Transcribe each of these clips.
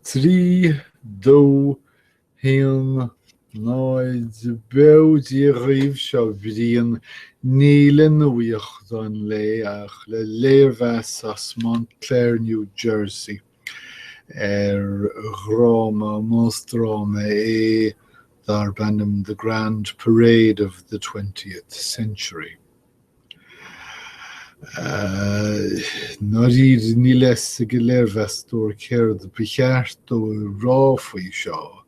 3, 2, 1, 0 Beo Dia dhaoibh, seo Brian, ní le nuacht an lae ach le léirmheas as Montclair, New Jersey ar dhráma, más dráma é, darb ainm The Grand Parade of the Twentieth Century. ndáiríre níl fhios ag an léirmheastóir céard ba cheart dó a a rá faoi seo.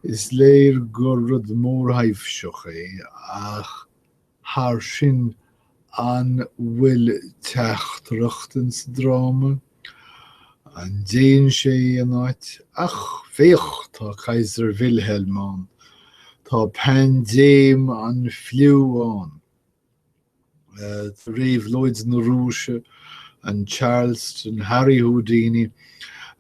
Is léir gur rud mórthaibhseach é, ach thar sin, an bhfuil teachtaireacht ann sa dráma? An dtéann sé in áit? Ach féach, tá Kaiser Wilhelm ann, tá paindéim an fliú ann, réabhlóid na Rúise, an Charleston, Harry Houdini,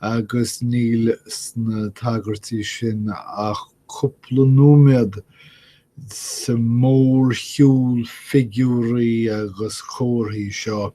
agus níl sna tagairtí sin ach cúpla nóiméad sa mhórshiúl figiúirí agus comharthaí seo.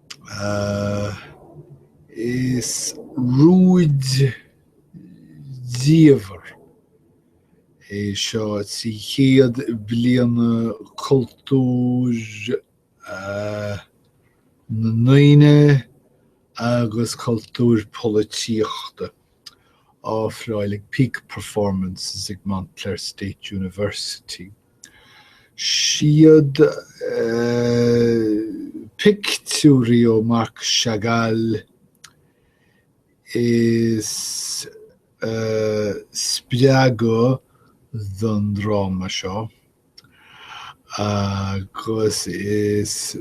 Ahh, is rud diamhair é seo trí chéad bliana cultúr ahh na ndaoine agus cultúir polaitíochta á ofráil ag Peak Performances ag Montclair State University. siad pictiúirí ó Marc Chagall is spreagadh don dráma seo agus is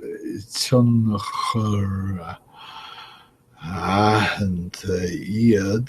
tionchar aitheanta iad.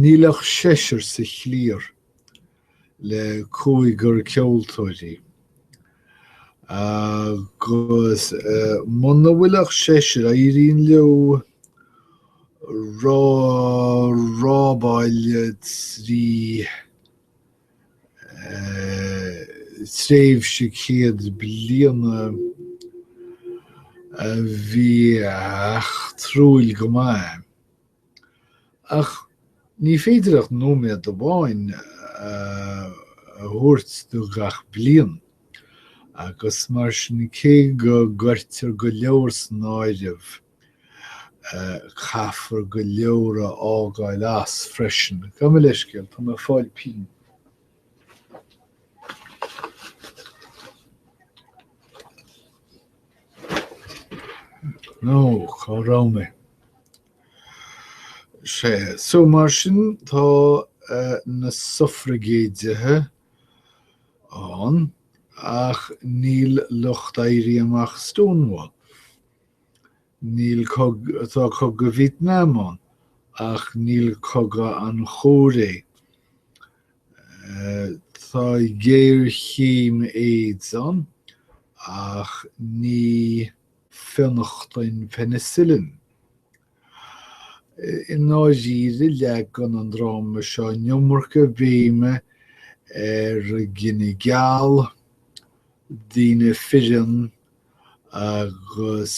Níl ach seisear sa chliar, le cúigear ceoltóirí, agus muna bhfuil ach seisear, éiríonn leo rábáil trí. tréimhse céad bliana a bhí eachtrúil go maith. Ach ní féidir ach nóiméad amháin a thabhairt do gach bliain, agus mar sin cé go gcuirtear go leor san áireamh, Caithfear go leor a fhágáil as freisin. Gabh mo leithscéal, tá mé ag fáil pinn. Nó, cá raibh mé? Sea, so mar sin tá na sufraigéidithe ann ach níl lucht éirí amach Stonewall. Níl tá cogadh Vítneam ann, ach níl cogadh na Cóiré. Tá géarchéim aids ann, ach níl fionnachtain peinicillin. I ndáiríre, leagann an dráma seo an iomarca béime ar an gcine geal, daoine fireanna agus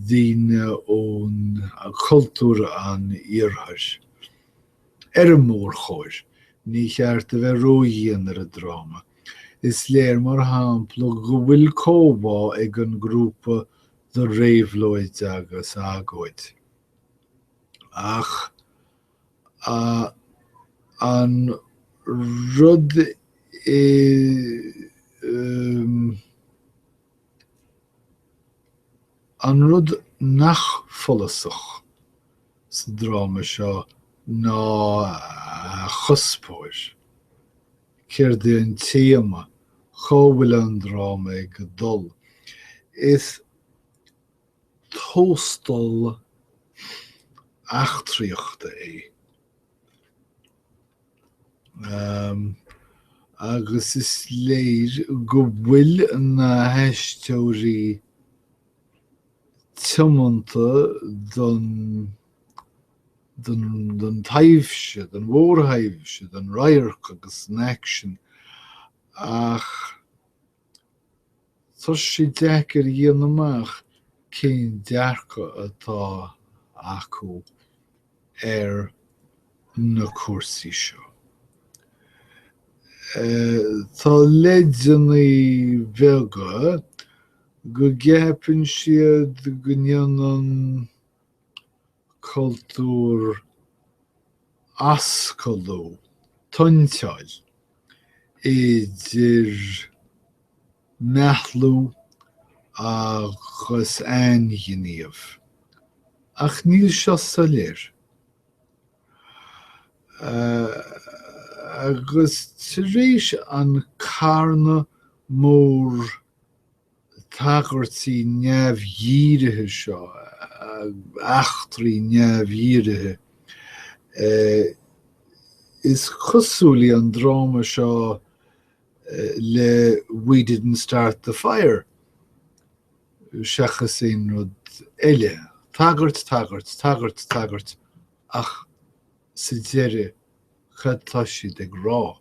daoine ón cultúr an iarthair. Ar an mórgóir, ní cheart a bheith ró-dhian ar an dráma. Is léir mar shampla go bhfuil comhbhá ag an grúpa do réabhlóid agus agóid. Ach an rud, an rud nach follasach sa dráma seo ná a chuspóir. Céard é an téama? Cá bhfuil an dráma ag dul? Is tóstal eachtraíochta é agus is léir go bhfuil na haisteoirí tiomanta don. don taibhse, don mhórthaibhse, don radharc agus an aicsean, ach tá sé deacair a dhéanamh amach cén dearcadh atá acu ar na cúrsaí seo. Tá leideanna bheaga go gceapann siad go ndéanann cultúr ascalú, tointeáil idir meathlú agus ainghníomh, ach níl seo soiléir, agus tar éis an carnadh mór, tagairtí neamhdhírithe seo, eachtraí neamhdhírithe. Is cosúla an dráma seo le We Didn't Start the Fire seachas aon rud eile, tagairt, tagairt, tagairt, tagairt, ach sa deireadh cad tá siad ag rá?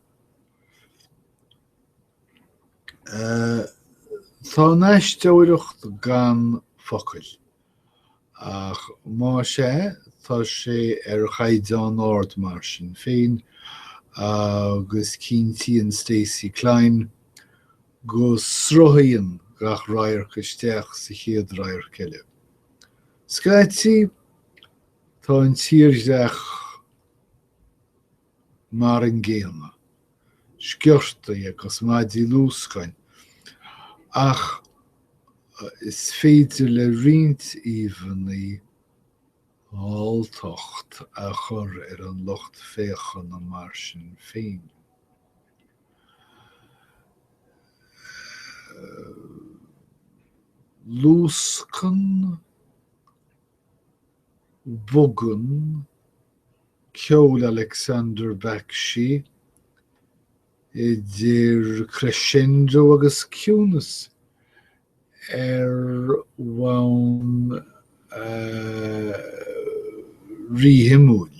Tá an aisteoireacht gan focail. Ach má sea, tá sé ar chaighdeán ard mar sin féin, agus cinntíonn Stacey Klein go sruthaíonn gach radharc isteach sa chéad radharc eile. Scaití, tá an tírdhreach mar an gcéanna, sciortaí agus maidí luascáin, ach is féidir le roinnt íomhánna alltacht a chur ar an lucht féachana mar sin féin. Luascann. Bhogann ceol Alexander Bakshi idir crescendo agus ciúnas ar bhonn rithimiúil.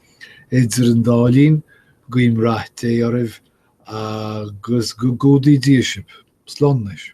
Idir an dá linn, guím rath Dé oraibh agus go gcumhdaí Dia sibh. Slán anois.